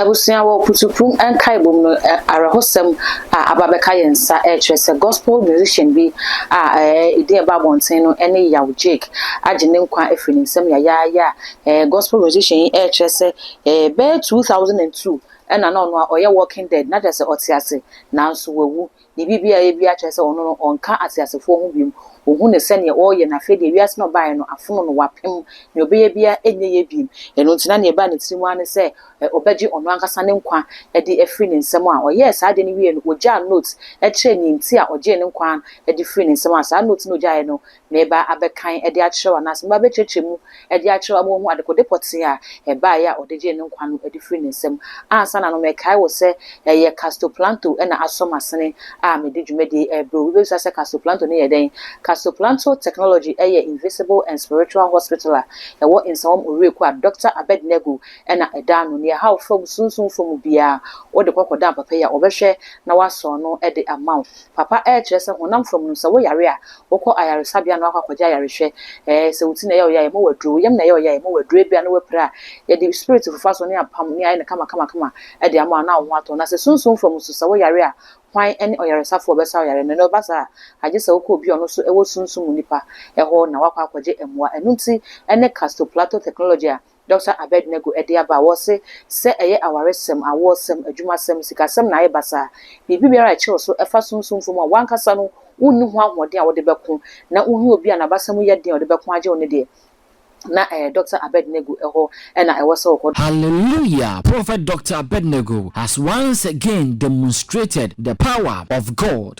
Abusua wɔ Putsuprum nkaebom no awerɛhosɛm a aba bɛka yɛn nsa rekyerɛ sɛ gospel musician bi a ne din ɛba abɔnten no ne Yaw Jake agye ne nkwa afiri ne nsam yayaaya a gospel musician yi rekyerɛ sɛ bɛyɛ 2002 ɛna na ɔno a ɔyɛ walking dead na kyerɛ sɛ ɔte ase nanso wawu Biribi biara a ɛyɛ biara kyerɛ sɛ ɔno no, ɔnka ateasefoɔ ho bio. Ɔhu no sɛdeɛ ɔreyɛ, na afei deɛ wiase no a ɔbaeɛ no, afono no, wapem. Deɛ ɔbɛyɛ biara, ɛnyɛ yie bio. Ɛno nti, na deɛ ɛbaa ne tirim ara ne sɛ, ɔbɛgye ɔno ankasa ne nkwa de afiri ne nsam. A Ɔyɛɛ saa adeɛ no wieeɛ no, ɔgyaa note kyerɛɛ deɛ nti a ɔgyee ne nkwa de firii ne nsam. A Saa note no a ɔgyaeɛ no, meba abɛkan de akyerɛ wo anaasɛ meba abɛkyerɛkyerɛ mu de akyerɛ wo ama woahu adekode pɔtee a ɛbaeɛ a ɔde gyee ne nkwa no adi firii ne nsam. Ansa na no mekae wo sɛ ɛyɛ Castoplanto na asɔ m'asene a medi dwumadie rebrɛ wo. Obi bɛbisa sɛ Castoplanto no yɛ dɛn? Castoplanto Technology yɛ Invisible and Spiritual Hospital a ɛwɔ Nsawam Owerekuw a Dɔkta Abednego na ɛda ano. Nea ɛhaw fam, sunsum fam biara, wode kɔ kɔda papa yi a, ɔbɛhwɛ na wasɔn no de ama wo. Papa ɛɛ kyerɛ sɛ honam fam no sɛ wo yare a wokɔ ayaresabea na wakɔ akɔgye ayarehwɛ ɛɛ sɛ wo ti na ɛyɛ wo ya yɛma wo aduro wo yam na ɛyɛ wo ya yɛma wo aduro ebia na wapira a yɛde spirit fofa so ne apam ne ayɛ no kama kama kama ɛde ama wo na wo ho atɔ na sɛ sunsum fam nso sɛ wo yare a hwan ɛne ɔyaresafo a ɔbɛsa wo yare no na ɛba saa a agye sɛ wokɔ obi a ɔno nso ɛwɔ sunsum mu nipa ɛhɔ na wakɔ akɔgye ɛmoa ɛno nti ɛne castoplato technology a Dɔkta Abednego de aba a wɔse sɛ ɛyɛ awaresɛm, awoɔsɛm, adwumasɛm, sikasɛm na ayɛ basaa, biribi biara a ɛkyerɛw so fa sunsum fam a w'ankasa no wunni ho ahoɔden a wode bɛko na wuhia obi a n'abasa mu yɛ den a ɔde bɛko agye wo no deɛ, na ɛyɛ Dɔkta Abednego hɔ na ɛwɔ sɛ wokɔ. Hallelujah Prophet Doctor Abednego has once again demonstrated the power of God.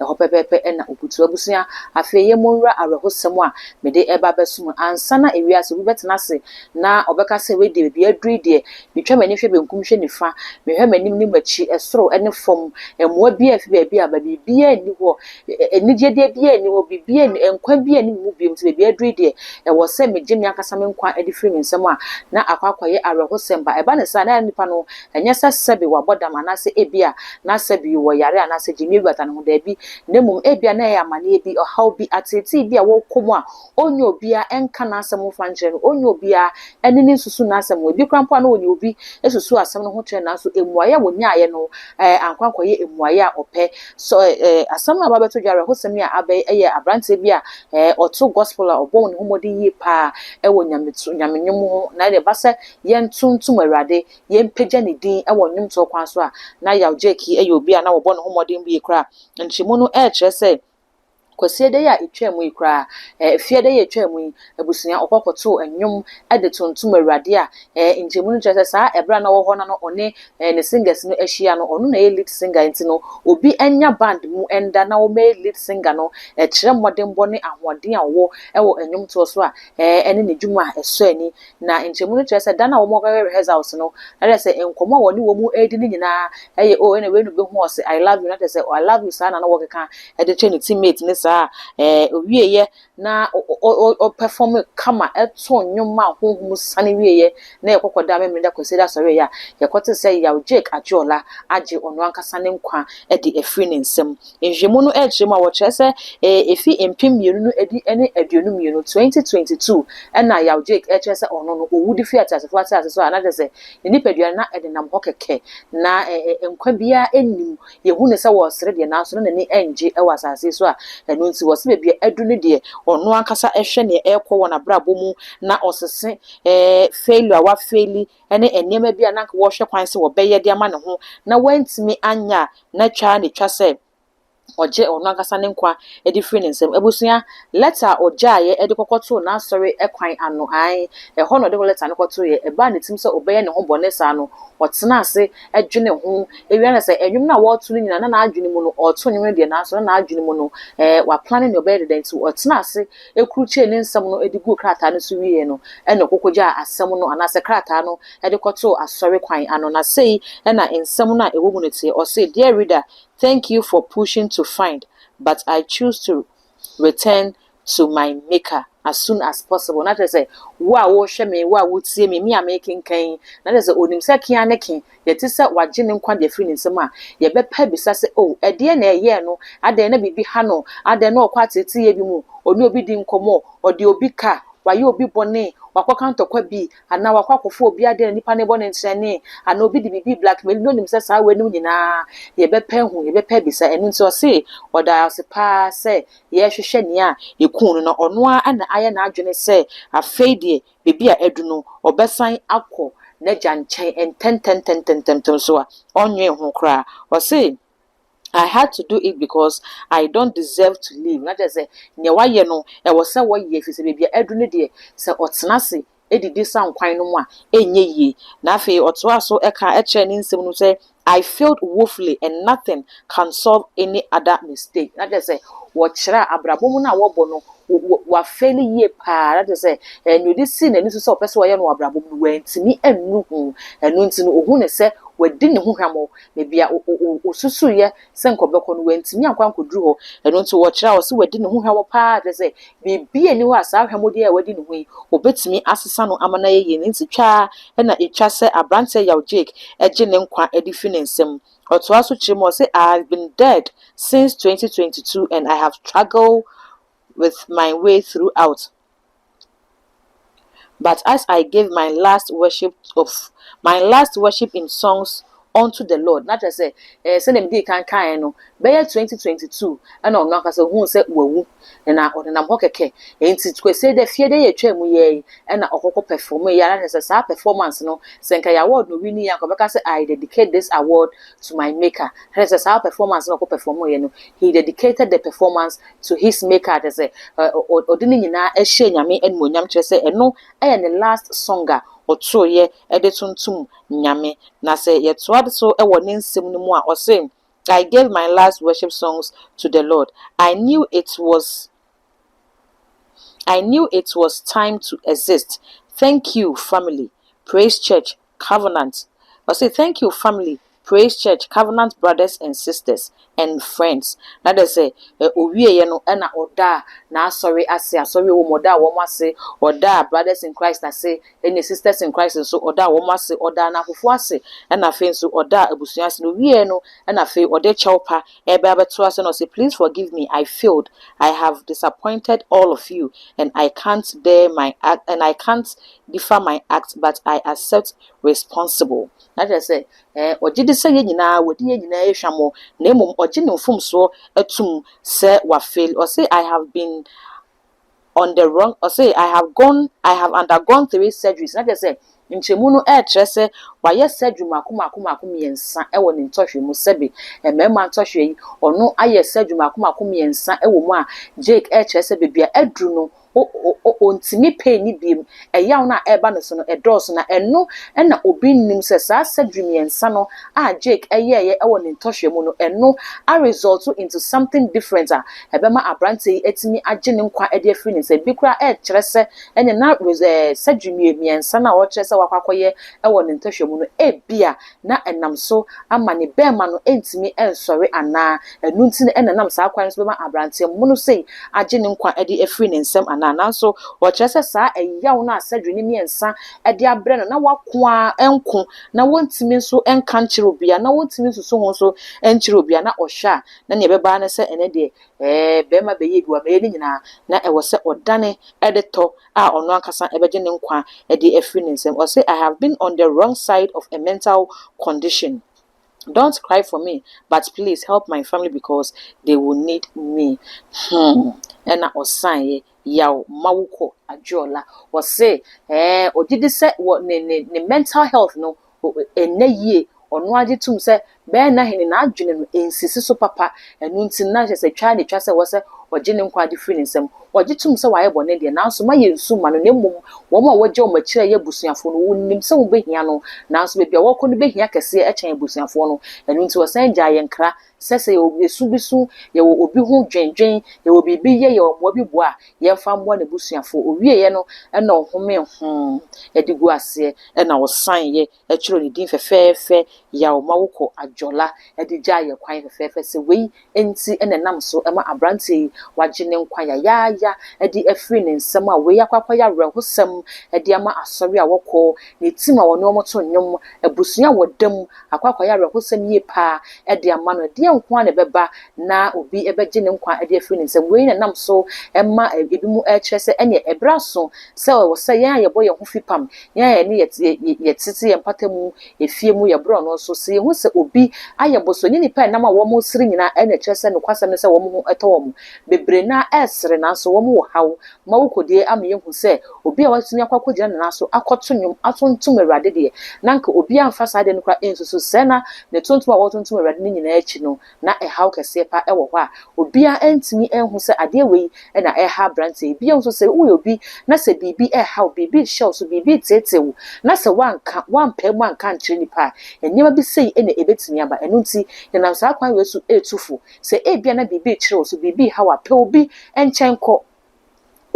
ɛhɔ pɛpɛɛpɛ na obutuw. Abusua, afei yɛn mu nwura awerɛhosɛm a mede reba abɛso mu. Ansa na ewiase obi bɛtena ase na ɔbɛka sɛ, Wei deɛ, baabi a aduru yi deɛ, metwa m'ani hwɛ benkum hwɛ nifa, mehwɛ m'anim ne m'akyi, soro ne fam, mmoa biara mfi baabi aba, biribiara nni hɔ, anigyedeɛ biara nni hɔ, biribiara nni hɔ, nkwa biara nni me mu bio, nti baabi a aduru yi deɛ, ɛwɔ sɛ megye me ankasa me nkwa de firi me nsam a, na akɔ akɔyɛ awerɛhosɛm ba. Ɛba no saa a, na nnipa no Ɛnyɛ sɛ sɛbe wabɔ dam anaasɛ ebia na sɛbe ɔwɔ yare anaasɛ gyimie guata ne ho, dabi, na mmom ebia na ɛyɛ amanneɛ bi, ɔhaw bi, ateetee bi a ɔkɔ mu a ɔnyɛ obiara nka n'asɛm mfa nkyerɛ no, ɔnyɛ obiara ne no nsusu n'asɛm ho. Ebi koraa mpo a na ɔne obi susu asɛm no ho kyerɛ no, nanso mmuaeɛ a ɔnyaaeɛ no ankɔ ankɔyɛ mmuaeɛ a ɔpɛ. So asɛm no a aba abɛto dwa, awerɛhosɛm yi a aba yi yɛ aberanteɛ bi a ɔto gospel a ɔbɔ ne ho mmɔden yie pa ara wɔ nyame nnwom ho, na ɛdeɛ ɛba sɛ yɛntontom Awurade yɛmpagya ne din wɔ nnwomtoɔ kwan so a, na Yaw Gyaki yɛ obi a na wɔbɔ ne ho mmɔden yie koraa. Nkyerɛmu no rekyerɛ sɛ, Kwasii ɛda yi a ɛtwaam yi koraa, ɛfeɛ ɛda yi a ɛtwaam yi, abusua ɔkɔ kɔtoo nnwom de tontom Awurade a, nkyerɛmu no kyerɛ sɛ saa ɛberɛ a na ɔwɔ hɔ na no ɔne ne singers no ahyia no, ɔno na ɛyɛ lead singer nti no, obi nnya band mu nda na wɔmmɛyɛ lead singer no, ɛkyerɛ mmɔdenbɔ ne ahoɔden a ɔwɔ wɔ nnwomtoɔ so a, ɛne ne dwuma a ɛsɔ ani Na nkyɛmu no kyerɛ sɛ da no a wɔn bɛwɛn results no na kyerɛ sɛ nkɔmɔ a wɔne wɔn ɛɛdi no nyinaa ɛyɛ oh ɛna wei no bɛhu ɔse I love you na kyerɛ sɛ I love you saa na na wɔkeka ɛde kyerɛ ne teammate ne saa ɛɛ owieɛ na ɔ perform kama ɛto nnwom a honhom sane wieɛ na yɛkɔkɔ da memory da kwasida asɔreɛ a yɛkɔte sɛ yaw Jake Adeola agye ɔno ankasa ne nkwa ɛde afiri ne nsam Nhwehwɛmu no kyerɛ mu a, wɔkyerɛ sɛ efi mpem mmienu ne du ne aduonu mmienu, 2022, na Yaw Jake kyerɛ sɛ ɔno no, owu de fii ateasefo asase so a na kyerɛ sɛ ne nipadua no na ɛdenam hɔ kɛkɛ. Ná nkwa biara nnim. Yehu no sɛ ɔresere deɛ, nanso na n'ani nnye wɔ asase yi so a ɛno nti wɔse baabi a adu no deɛ, ɔno ankasa hwɛ nea ɛrekɔ wɔ n'abrabɔ mu na ɔsese failure a wafeili ne nneɛma bi a na anka wɔrehwɛ kwan sɛ wɔbɛyɛ de ama ne ho na wantumi anyɛ a, na twa ara na etwa sɛ ɔgye ɔno ankasa ne nkwa de firi ne nsam. Abusua, lɛta a ɔgyaeɛ de kɔkɔtoo n'asɔre kwan ano, aane, ɛhɔ na ɔde lɛta no kɔtoeɛ. Ɛbaa ne tirim sɛ ɔbɛyɛ ne ho bɔne saa no, ɔtenaa ase dwenee ho. Ɛwia no sɛ, nnwom no a wɔreto no nyinaa, na n'adwene mu no, ɔreto nnwom no deɛ, nanso na n'adwene mu no, ɛɛ, waplane deɛ ɔbɛyɛ de dɛn, nti ɔtenaa ase krukyɛɛ ne nsɛm no de guu krataa no so wieeɛ no na ɔkɔkɔgyaa asɛm no anaasɛ krataa no de kɔtoo asɔre kwan ano, na sei na nsɛm no a ɛwɔ mu no teɛ, ɔse, Dear reader, thank you for pushing to find, but I choose to return to my Maker as soon as possible. Na kyerɛ sɛ, wo a worehwɛ me, wo a woretie me, me a merekenkan yi, na kyerɛ sɛ ɔnim sɛ ke ara ne ke, yɛte sɛ wɔagye ne nkwa de afiri ne nsam a, yɛbɛpa abisa sɛ, Oh, ɛdeɛn na ɛyɛɛ no? Adɛn na biribi ha no? Adɛn na ɔkɔ ateeteeɛ bi mu? Ɔne obi di nkɔmmɔ? Ɔde obi ka? Wayɛ obi bɔne? Wakɔka ntɔkwa bi? Anaa wakɔ akɔfa obi adeɛ na nipa no rebɔ no nkyerɛnee? Anaa obi de biribi blackmaili no? Ɔnim sɛ saa weinom nyinaa yɛbɛpa ahu, yɛbɛpa abisa. Ɛno nti ɔse, Ɔdaa ase pa ara sɛ yɛrehwehwɛ nea ɛkuu no, na ɔno ara na ayɛ n'adwene sɛ afei deɛ baabi a adu no, ɔbɛsan akɔ n'agya nkyɛn ntɛntɛntɛntɛm so a, ɔnnwen ho koraa. Ɔse, I had to do it because I don't deserve to live, na kyerɛ sɛ, nea wayɛ no, ɛwɔ sɛ ɔyɛ, ɛfiri sɛ baabi a adu no deɛ, sɛ ɔtena ase didi saa nkwan no mu a, ɛnyɛ yie. Na afei ɔtoaa so ka kyerɛɛ ne nsɛm no mu sɛ, I failed woefully and nothing can solve any other mistake. Na kyerɛ sɛ wɔkyerɛ a abrabɔ mu no a wɔbɔ no wafɛli yie paa na kyerɛ sɛ eh, nea ɔde sii n'ani so sɛ ɔpɛ sɛ ɔyɛ no wɔ abrabɔ mu no wantumi annu ho ɛno nti no ɔhu ne sɛ wadi ne ho hwammɔ na bia ɔsusuiɛ sɛ nka ɔbɛkɔ no, wantumi ankɔ ankɔduru hɔ. Ɛno nti wɔkyerɛ a, ɔse wadi ne ho hwammɔ pa ara, kyerɛ sɛ, biribiara nni hɔ a saa hwammodeɛ a wadi ne ho yi, ɔbɛtumi asesa no ama no ayɛ yie. Ne nti twa ara na ɛtwa sɛ aberanteɛ Yaw Jake gye ne nkwa de firi ne nsa mu. Ɔtoa so kyerɛ mu a, ɔse, I have been dead since 2022 and I have struggled with my way throughout. But as I gave my last worship of my last worship in songs unto the Lord, na kyerɛ sɛ ɛɛ sɛdeɛ mede kan kaeɛ no bɛyɛ 2022 ɛna ɔno ankasa huu sɛ wawu na ɔnenam hɔ kɛkɛ nti kwesɛ dɛ fie dɛ yɛtwa mu yɛ yi ɛna ɔkɔkɔ perform yɛ ara kyerɛ sɛ saa performance no sɛ nka yɛ award no wi ni yɛ nka ɔbɛka sɛ I dedicate this award to my maker kyerɛ sɛ saa performance no ɔkɔ perform yɛ no he dedicated the performance to his maker kyerɛ sɛ ɔde ne nyinaa ɛhyɛ nyame animonyam kyerɛ sɛ ɛno ɛyɛ ne last song a ɔtoroyɛ ɛde tontom nyame na sɛ yɛtoa so ɛwɔ ne nsɛm no mu a ɔse I gave my last worship songs to the Lord I knew it was I knew it was time to exist thank you family praise church covenant ɔse thank you family praise church covenant brothers and sisters and friends na dɛ sɛ owie yɛ no ɛna ɔdaa n'asɔre ase asɔre wɔ mu ɔdaa wɔn ase ɔdaa brothers in Christ ase ɛne sisters in Christ nso ɔdaa wɔn ase ɔdaa n'akofo ase ɛna afei nso ɔdaa abusua ase na owie yɛ no ɛna afei ɔde kyɛw pa ɛbɛ abɛto ase na ɔse please forgive me I failed I have disappointed all of you and I can't bear my and I can't defa my act but I accept responsible na kyerɛ sɛ ɛɛ ɔgye di sɛ yɛn nyinaa wɔdi yɛn nyinaa yɛ hwammɔ na mmom ɔgye ne mfomsoɔ atum sɛ wa fail ɔse I have been on the wrong ɔse I have gone I have undergone three surgeries na kyerɛ sɛ nkyɛmu no ɛɛkyerɛ sɛ wayɛ surgery mako mako mako mmiɛnsa ɛwɔ ne ntɔhwe mu sɛbe mmarima ntɔhwe yi ɔno ayɛ surgery mako mako mmiɛnsa ɛwɔ mu a Jake ɛɛkyerɛ sɛ baabi a aduru no O, o, o, ontumi pay ne biom. Ɛyaw no a ɛreba ne so no, ɛdɔɔso. Na ɛno na obi nnim sɛ saa surgery mmiɛnsa no a Jake yɛeɛ wɔ ne ntɔhwɛ mu no, ɛno aresɔlto into something different a ɛbɛma aberanteɛ yi atumi agye ne nkwa de afiri ne nsam. Bi koraa ɛrekyerɛ sɛ ɛnneɛ na res, ɛɛ, surgery mmiensa no a ɔrekyerɛ sɛ wakɔ akɔyɛ wɔ ne ntɔhwɛ mu no, ebia na ɛnam so ama ne bɛɛma no ntumi nsɔre anaa ɛno nti na ɛnam saa kwan no so bɛma aberanteɛ mmono sei agye ne nkwa de afiri ne nsam anaa. Nanso wɔkyerɛ sɛ saa ɛyaw no a surgery no mmiɛnsa de abrɛ no na wako ara nko na wɔntumi nso nka nkyerɛ obiara na wɔntumi nsusu ho nso nkyerɛ obiara na ɔhwɛ a na nea ɛbɛba ara ne sɛ ɛnɛ deɛ ɛɛ bɛɛma bɛyɛ bi wɔ ameyɛ no nyinaa na ɛwɔ sɛ ɔdane de tɔ a ɔno ankasa bɛgye ne nkwa de afiri ne nsam. Ɔse, I have been on the wrong side of a mental condition. Don't cry for me but please help my family because they will need me. Hmm. Ɛna ɔsaeɛ. Yaw ma wokɔ. Adeola. Ɔse, ɛɛ, ɔgye di sɛ wɔ ne, ne, ne mental health no, nna yie. Ɔno ara gye tom sɛ bɛyɛ na hene n'adwene no nsisi so papa. Ɛno nti, na kyerɛ sɛ twa na etwa sɛ ɛwɔ sɛ ɔgye ne nkwagye firi ne nsam. Ɔgye tom sɛ wayɛ bɔne deɛ, nanso mma yɛnnsu mma no, na mmom wɔn a wɔgya wɔn akyiri a ɛyɛ abusuafoɔ no, wonim sɛ wɔbɛhia no, nanso baabi a wɔrekɔ no bɛhia kɛseɛ kyɛn abusuafoɔ no. Ɛno nti, wɔsan gyaa yɛn kra sɛ sɛ yɛwɔ ɛsu bi so, yɛwɔ obi ho dwendwen, yɛwɔ biribi yɛ, yɛwɔ mmoa bi boa a, yɛmfa mmoa n'abusuafoɔ. Ɔwieeɛ no, ɛna ɔhomee ho de guu aseɛ, ɛna ɔsaneeɛ, ɛtwerɛɛ ne din fɛfɛɛfɛ, Yaw Mawokɔ Ajola, de gyaa yɛn kwan fɛfɛɛfɛ sɛ wei nti na ɛnam so ma aberanteɛ yi wagye ne nkwa yayaaya de afiri ne nsam a wei akɔ akɔyɛ awerɛhosɛm de ama asɔre a wɔkɔ, ne team a wɔne wɔn to nnwom, abusua a wɔda mu akɔ akɔyɛ awerɛhosɛm yie paa de ama no. Ɛdeɛn nko ara na ɛbɛba na obi bɛgye ne nkwa de afiri ne nsam? Wei na ɛnam so ma ebinom kyerɛ sɛ ɛnneɛ ɛberɛ aso sɛ ɛwɔ sɛ yɛn a yɛbɔ yɛn ho fipam, yɛn a yɛne yɛtete yɛn mpata mu efie mu yɛ borɔno nso, sɛ yɛhu sɛ obi ayɛ boso. Ɛnyɛ nnipa a ɛnam a wɔsere nyinaa na ɛkyerɛ sɛ nokwasɛm ne sɛ wɔn ho tɔ wɔn. Bebree no ara sere nanso wɔwɔ haw ma wokɔ die ama yɛahu sɛ obi a watumi akɔ akɔgyina ne nan so akɔto nnwom atontom Awurade deɛ, na anka obiara mfa saa adeɛ no koraa nsusu sɛ na ne tontom a wɔretontom Awurade no nyinaa akyi no, na ɛhaw kɛseɛ pa wɔ hɔ a obiara antumi anhu sɛ adeɛ wei na ɛreha aberanteɛ yi. Bio nso, sɛ woyɛ obi na sɛ biribi reha wo, biribi rehyɛ wo so, biribi reteetee wo, na sɛ woanka, woampae mu anka ankyerɛ nnipa a, nneɛma bi sei na ɛbɛtumi aba. Ɛno nti, yɛnam saa kwan wei so retu fo Sɛ ebia na biribi rekyere wo so, biribi reha wo a, pɛ obi nkyɛn kɔ.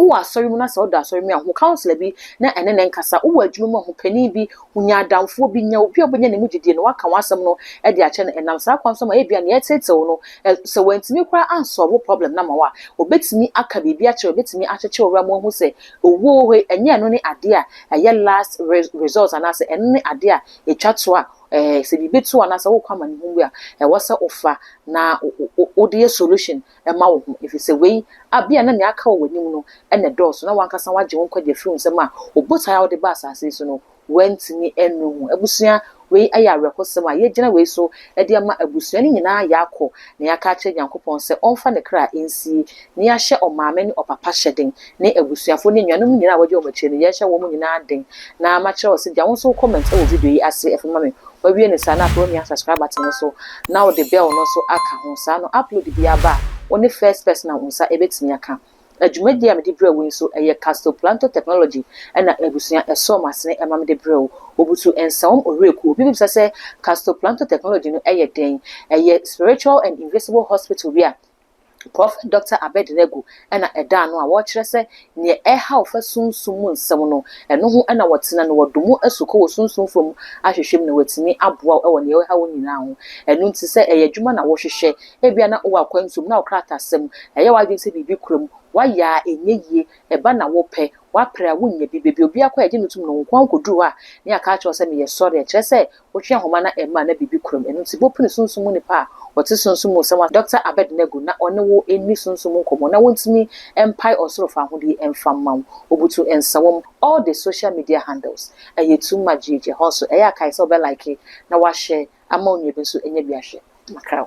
Wowɔ asɔre mu na sɛ ɔda asɔre mu a, hu counselor bi na ɛne no nkasa. Wowɔ adwuma mu a, hu panin bi, hu nya adamfoɔ bi, nya obi a wobɛnya ne mu gyedie na woaka w'asɛm no de akyerɛ no. Ɛnam saa kwan so ma ebia nea ɛreteetee wo no, sɛ wantumi koraa ansɔɔve wo problem no ama wo a, ɔbɛtumi aka biribi akyerɛ wo, ɛbɛtumi akyekye wo werɛ ama woahu sɛ owuo wei, ɛnyɛ ɛno ne adeɛ a ɛyɛ last resort anaasɛ ɛno ne adeɛ a ɛtwa toɔ a Eh, sɛ biribi to anaasɛ wokɔ amanehunu bi a, ɛwɔ sɛ wofa na wode yɛ solution ma wo ho, ɛfiri sɛ wei abia ah, na nea aka wɔ w'anim no na ɛdɔɔso, na wankasa wagye wo nkwagye afiri nsɛm a obotae a wode ba asase yi so no wantumi annu ho. Abusua, wei yɛ awerɛhosɛm a yɛagyina wei so de ama abusua no nyinaa yɛakɔ na yɛaka akyerɛ Nyankopɔn sɛ ɔmfa ne kra nsie na yɛahyɛ ɔmaame ne ɔpapa hyɛ den, ne abusuafo ne anuanom nyinaa a wɔadi wɔn akyiri no, yɛrehyɛ wɔn nyinaa den. Na makyerɛ wo sɛ gya wo nso wo comment wɔ video yi ase afei ma me. Woawie no saa na afei woamia subscribe button no so na wode bell no nso aka ho saa na upload biara ba a, wo ne first person a wo nsa bɛtumi aka. Na dwumadie a mede brɛ wo yi nso, ɛyɛ Castoplanto Technology na abusua ɛsɔɔ m'asene ma mede brɛɛ wo. Wɔbutu nsawam owurakuo. Obi bɛbisa sɛ Castoplanto Technology no yɛ dɛn? Ɛyɛ spiritual and invisible hospital bi a, Prɔfɛt Dɔkta Abednego na ɛdaa no a wɔkyerɛ sɛ nea ɛhaw fa sunsum mu nsɛm no, ɛno ho na wɔtena no, wɔde mu asukɔ wɔ sunsum fam ahwehwɛ mu na wɔatumi aboa wo wɔ nea ɛhaw wo nyinaa ho. Ɛno nti sɛ ɛyɛ adwuma na wohwehwɛ, ebia na wowɔ akwantu mu, na wo krataasɛm, ɛyɛ w'adwene sɛ biribi kura mu, woayɛ a ɛnyɛ yie, ɛba na wopɛ, woapere a wonnya bi, baabi a obi akɔ a yɛgye no tom no, wo nko ara wukoduru hɔ a, na yɛaka akyerɛ wo sɛ meyɛ sɔre a, ɛkyerɛ sɛ Wohwɛ nhoma na ɛmma a na biribi kura mu. Ɛno nti bopene sunsum mu nipa a ɔte sunsum mu nsɛm ase. Dɔkta Abednego na ɔne wo nni sunsum mu nkɔmmɔ na wontumi mpae ɔsoro fa ahodie mfa mma wo. Obutu nsawom. All the social media handles ɛyɛ too much gyegye. Ɛhɔ nso ɛyɛ a kae sɛ wobɛ like na woahyɛ ama onua bi nso anya bi ahwɛ. Makrɛw.